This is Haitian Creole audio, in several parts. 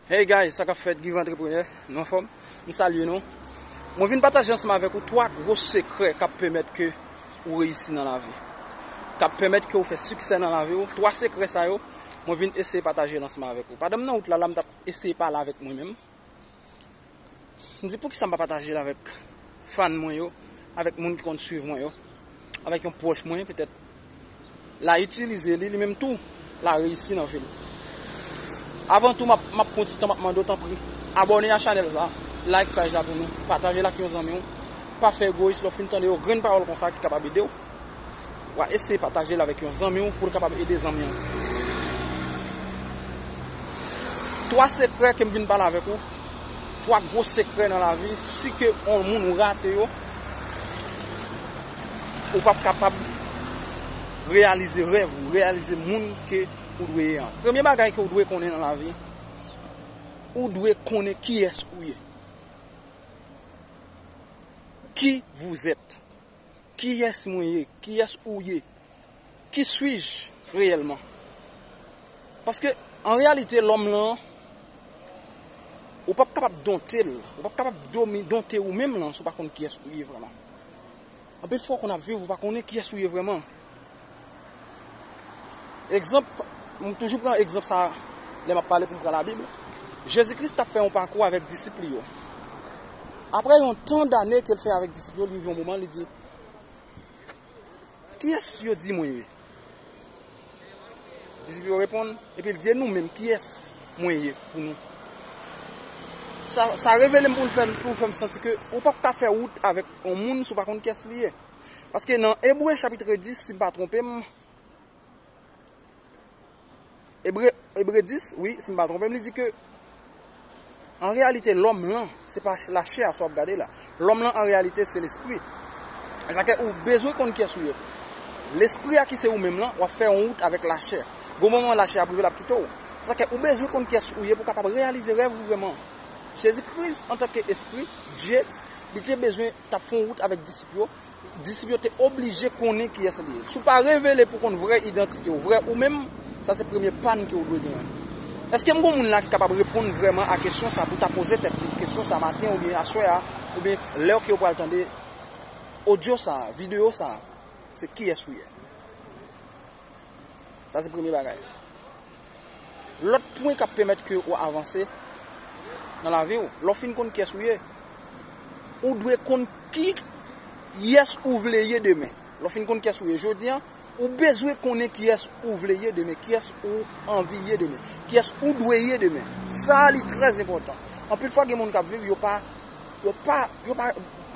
Hey guys sa kap fèt Give Entrepreneur nou anfòm? M salye nou Mwen vin pataje ansanm avèk ou 3 gwo sekrè kap pèmèt ke ou reyisi nan lavi kap pèmèt ke ou fè siksè nan lavi ou 3 sekrè sa yo mwen vin eseye pataje l ansanm avèk ou pandan m nan wout la la m tap eseye pale avèk mwen menm M di poukisa m pa pataje l avèk fan mwen yo, avèk moun ki konn swiv mwen yo, avèk yon pwòch mwen petèt la itilize li, li menm tou la reyisi nan vi l. Avan tou map map pran ti tan map mande w tanpri abòne a chanèl sa, like paj la pou nou, pataje l ak yon zanmi w, pa fè egoyis lè w fin tande yon grenn pawòl konsa ki kapab ede w. Wa eseye pataje l avèk yon zanmi w pou l kapab ede zanmi an tou. 3 sekrè ke m vin pale avèk ou, 3 gwo sekrè nan lavi si ke yon moun ou rate yo, ou pap kapab reyalize rèv ou, reyalize moun ke ou dwe ye an. Premye bagay ke ou dwe konnen nan lavi, ou dwe konnen kiyès ou ye. Qui vous êtes? Kiyès mwen ye? Kiyès ou ye? Ki suis-je reyèlman? Paske, an reyalite, lòm lan, ou pap kapab donte l, ou pap kapab donte ou menm lan si ou pa konn kiyès ou ye vrèman. Anpil fwa ou konn ap viv ou pa konnen kiyès ou ye vrèman. Egzanp, m toujou pran egzanp sa lè m ap pale pou m pran Labib. Jezi Kris t ap fè yon pakou avèk disip li yo. Apre yon tan dane ke l fè avèk disip yo, li rive yon moman li di, Kiyès yo di mwen ye? Disip yo reponn, epi l di, e nou menm, kiyès mwen ye pou nou? Sa revele m pou l fè m santi ke ou p ap ka fè wout avèk yon moun si w pa konn kiyès li ye. Paske nan Ebre chapitre 10, si m pa twonpe m, Ebre 10, wi, si m pa twonpe m, li di ke, an reyalite, lòm lan, se pa la chè a sa w ap gade la. Lòm lan, an reyalite, se lespri. E sa ke ou bezwen konn kyes ou ye. Lespri a ki se ou menm lan, w ap fè yon wout avèk la chè. Gon moman la chè ap rive l ap kite w. Se sa ke ou bezwen konn kyes ou ye pou w kapab reyalize rèv ou vreman. Jezi Kris, antanke espri, Dye, li te bezwen t ap fon wout avèk disip yo, disip yo te oblije konnen kiyès li ye. Si w pa revele pou w konn vrè idantite w, vrè ou menm, sa se premye pàn ke w dwe genyen. Èske m gen yon moun la ki kapab reponn vrèman a kesyon sa pou w ta poze tèt li kesyon sa maten an oubyen aswè a oubyen lè ke w pral tande odyo sa a, videyo sa a, se kiyès ou ye? Sa se premye bagay. Lòt pwen k ap pèmèt ke ou avanse nan lavi ou, lè w fin konn kiyès ou ye, ou dwe konn kiyès ou vle ye demen. Lè w fin konn kiyès ou ye jodi an, ou bezwen konnen kiyès ou vle ye demen, kiyès ou anvi ye demen, kiyès ou dwe ye demen. Sa a li trè enpòtan. Anpil fwa gen moun k ap viv, yo pa, yo pa, yo pa,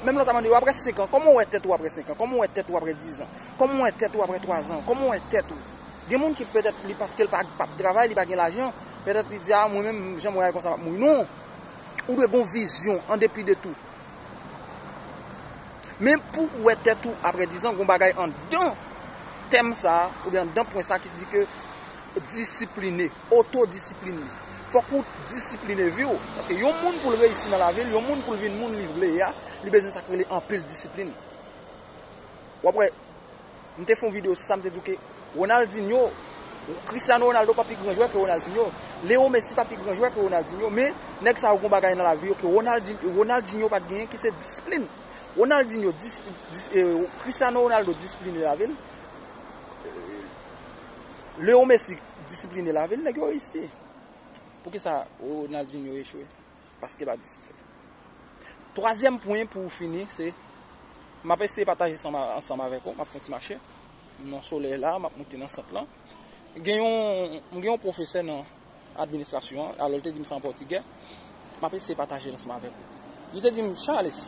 menm lè w ta mande yo apre 5 an, kòman ou wè tèt ou apre 5 an, kòman ou wè tèt ou apre 10 an, Kòman w wè tèt ou aprè 3 zan? Kòman w wè tèt ou? Gen moun ki petèt li paske l pa ap travay, li pa gen lajan, petèt li di a mwen menm jan mwen ye konsa m ap mouri. Non! Ou dwe gen yon vizyon an depi de tou. Men pou ou wè tèt ou aprè 10 zan, gen yon bagay anndan tèm sa a, oubyen anndan pwen sa a ki di ke disipline, otodisiplin. Fòk ou disipline vi ou. Paske yon moun pou l reyisi nan lavi l, yon moun pou l vin moun li vle a, li bezwen sa ki rele anpil disiplin. Wap wè m te fè yon video sou sa m te di w ke Ronaldinho Cristiano Ronaldo pa pi gran jwè ke Ronaldinho, Leo Messi pa pi gran jwè ke Ronaldinho men nèg sa yo gen yon bagay nan lavi yo ke Ronaldinho pat genyen ki se disiplin. Ronaldinho Cristiano Ronaldo disipline lavi l, Leo Messi disipline lavi l nèg yo reyisi. Poukisa Ronaldinho echwe? paske pa disiplin. Twazyèm pwen pou fini se, m ap eseye pataje sa ansanm avèk ou, m ap fè yon ti mache, nan solèy la, m ap moute nan sant lan. Gen yon, m gen yon pwofesè nan administrasyon an, alò l te di m sa an pòtigè, m ap eseye pataje l ansanm avèk ou. Li te di m, Charles,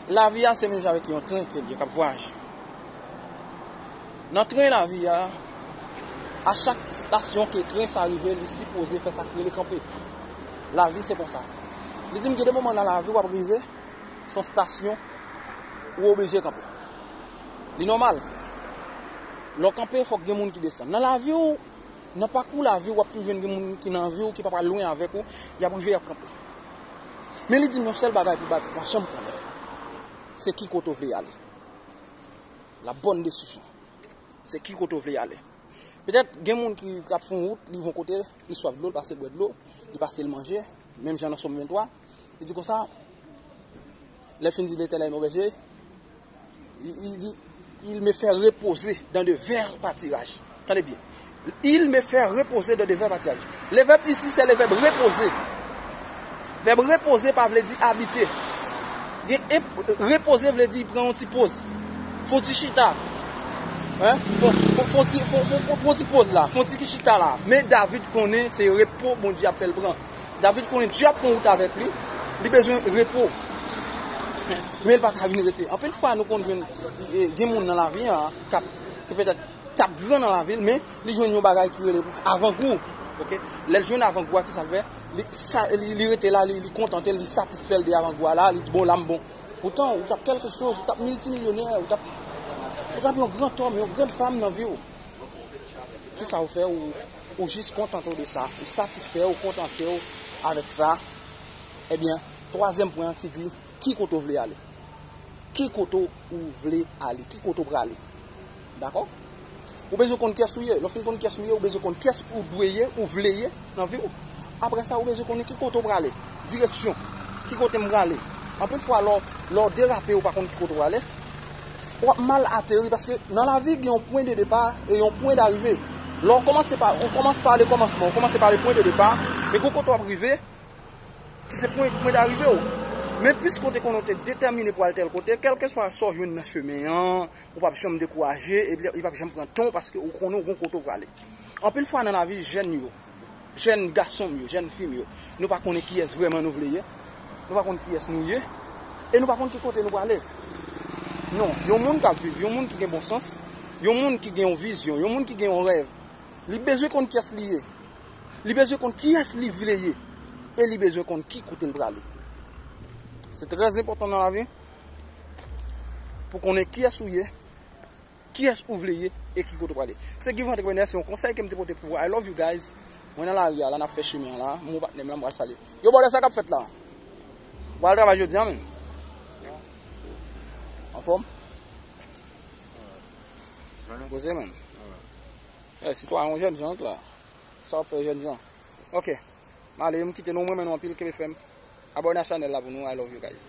Lavi a se menm jan avèk yon tren ke l ye k ap vwayaje. Nan tren lavi a, a chak stasyon ke tren sa rive li sipoze fè sa k rele kanpe. Lavi se konsa. Li di m gen de moman nan lavi w ap rive s on stasyon ou oblije kanpe. Li nòmal. Lè w kanpe fòk gen moun ki desann. Nan lavi w, Nan pakou lavi w ap toujou jwenn gen moun ki nan vi w ki pa pral lwen avèk ou, y ap rive y ap kanpe. Men li di m yon sèl bagay pou bagay, pa janm konnen se ki kote w vle ale. La bonne décision. Se ki kote w vle ale. Petèt gen moun ki ap fon wout, li von kote, li swaf dlo, li pase bwè dlo, li pase li manje, menm jan nan Som 23, li di konsa, lè l fin di Letènèl mwen bèje, Li di, Il me fè repoze dan de vèr patiraj. Tande byen. Il me fè repoze dan de vèr patiraj. Le vèb isi se le vèb repoze. Vèb repoze pa vle di abite. Repoze vle di pran yon ti poz. Fon ti chita. Fon ti poz la. Fon ti ki chita la. Men David konnen se repo Bondye ap fè l pran. David konnen Dye ap fè yon wout avèk li, li bezwen repo. Men li pa ka vin rete. Anpil fwa nou konn jwenn gen moun nan lavi a kap ki petèt tap gran nan lavi l men li jwenn yon bagay ki rele avangou. Ok, lè l jwenn avangou a kisa l fè? Li rete la, li kontante l, li satisfè l de avangou a la, li di bon la m bon. Poutan ou tap kelke choz, ou tap miltimilyonè, ou tap yon gran tòm, yon gran fanm nan vi w. Kisa ou fè ou? ou jis kontante w de sa, ou satisfè w, ou kontante w avèk sa, ebyen, twazyèm pwen an ki di, ki kote w vle ale? Ki kote ou vle ale? Ki kote ou prale? Dakò? Ou bezwen konn kyès ou ye. Lè w fin konn kyès ou ye, ou bezwen konn kyès ou dwe ye, ou vle ye nan vi w. Apre sa, ou bezwen konnen ki kote ou prale. Direksyon. Ki kote m prale? Anpil fwa lè w derape ou pa konn ki kote ou prale. Wap mal ateri paske nan lavi gen yon pwen de depa e yon pwen darive. Lè w kòmanse pa, ou kòmanse pa ale kòmansman, ou kòmanse pa ale pwen de depa, men gen yon kote wap rive ki se pwen, pwen darive w. Men piske ou te konnen ou te detèmine pou al tèl kote, kèlkeswa sa w jwenn nan chemen an, ou pap janm dekouraje, epi li pap janm pran tan w paske ou konnen ou gen yon kote ou prale. Anpil fwa nan lavi jèn yo. Jèn gason m yo, jèn fi m yo, nou pa konnen kiyès vrèman nou vle ye, nou pa konn kiyès nou ye, e nou pa konn ki kote nou prale. Non, yon moun k ap viv, yon moun ki gen bon sans, yon moun ki gen yon vizyon, yon moun ki gen yon rèv, li bezwen konn kiyès li ye, li bezwen konn kiyès li vle ye, e li bezwen konn ki kote l prale. Se trè enpòtan nan lavi pou konnen kiyès ou ye, Kiyès ou vle ye e ki kote ou prale. Se Guy Vent Entrepreneur, se yon konsèy kem te pote pou ou. I love you guys. Mwen nan lari a la, nap fè chemen an la. Mwen ak patnèm lan m pral salye. Yo bòlè sa kap fèt la? Ou pa al travay jodi an menm? Anfòm? Alright. Koze menm. Alright. Eh, sitwayen yon jèn jan ank la. Sa wap fè jèn jan? Ok. Male, m kite nou, m renmen nou anpil, kenbe fèm. Abòne a chanèl la pou nou. I love you guys.